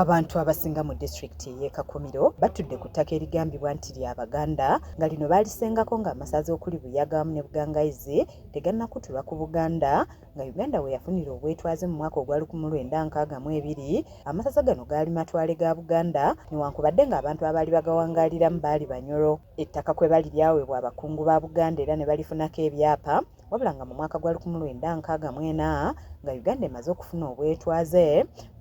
Abantu abasinga mu disitulikiti ey'e Kakumiro batudde ku ttaka erigambibwa nti lya Baganda nga lino baalisengako ng'amasaza okuli Buyaga wamu ne Bugangaizi tegannakutulwa ku Buganda nga Uganda we yafunira obwetwaze mu mwaka ogwa lukumi lwenda nkaaga mu ebiri. Amasaza gano gaali matwale ga Buganda newankubadde ng'abantu abaali bagawangaaliramu baali Banyoro. Ettaka kwe bali lyaweebwa abakungu ba Buganda era ne balifunako ebyapa. wabula nga mu mwaka gwa lukumu lwenda nkaaga mwena nga Uganda emaze okufuna obwetwaze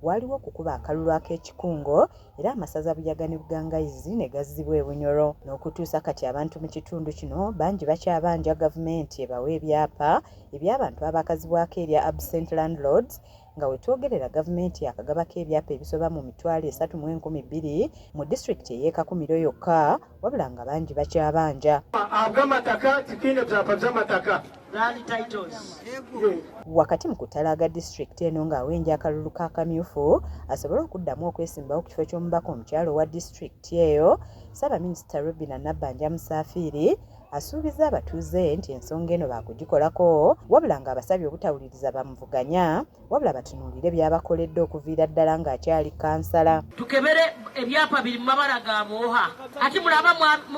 waaliwo okukuba akalulu ak'ekikungo era amasaza Buyaga ne Bugangaizi ne gazzibwa e Bunyoro n'okutuusa kati abantu mu kitundu kino bangi bakyabanja gavumenti ebawe ebyapa eby'abantu abaakazibwako erya absent landlords Nga wetwogerera gavumenti yakagabako ebyapa ebisoba mu mitwalo esatu mu enkumi bbiri mu disitulikiti ey'e Kakumiro yokka wabula nga bangi bakyabanja. Ag'amataka tikino byapa by'amataka Wakati mu kutalaaga disitulikiti eno ng'awenja akalulu ka kamyufu asobole okuddamu okwesimbawo ku kifo ky'omubaka omukyala owa disitulikiti eyo, Ssaabaminisita Robinah Nabbanja Musaafiiri Asuubizza abatuuze nti ensonga eno baakugikolako wabula ng'abasabye obutawuliriza bamuvuganya wabula batunuulire by'abakoledde okuviira ddala ng'akyali kansala. Tukebere ebyapa biri mu mabala ga bwoha ati mulaba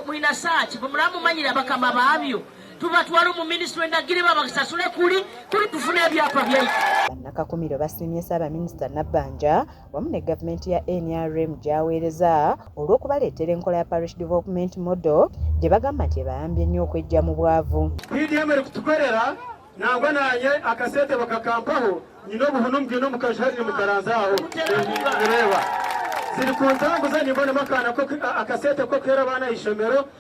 mulina saaki bwe mulaba mumanyira bakama baabyo tubatwala mu minisitule ndagire babasasule kuli kuli tufune ebyapa byaife. Bannakakumiro basiimye Ssaabaminisita Nabbanja wamu ne gavumenti ya nrm gy'aweereza olw'okubaleetera enkola ya Parish Development Model gye bagamba nti ebayambye nnyo okweggya mu bwavu. PDM eri kutukolera nangwa nanye akasente bakakampaho nyina obuhunu mbwine omukazi hari nimukaranza aho nireba ziri kuntambuza nimbonemu akana akasente ko kuhera abaana ishomero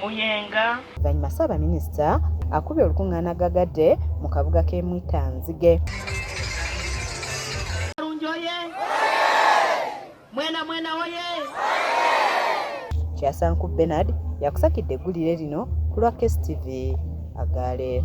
Muyenga. Oluvannyuma Ssaabaminisita akubye olukungaana gagadde mu kabuga k'e Mwitanzige. Kyasanku Bernard yakusakidde eggulire lino ku lwa KSTV Agaale.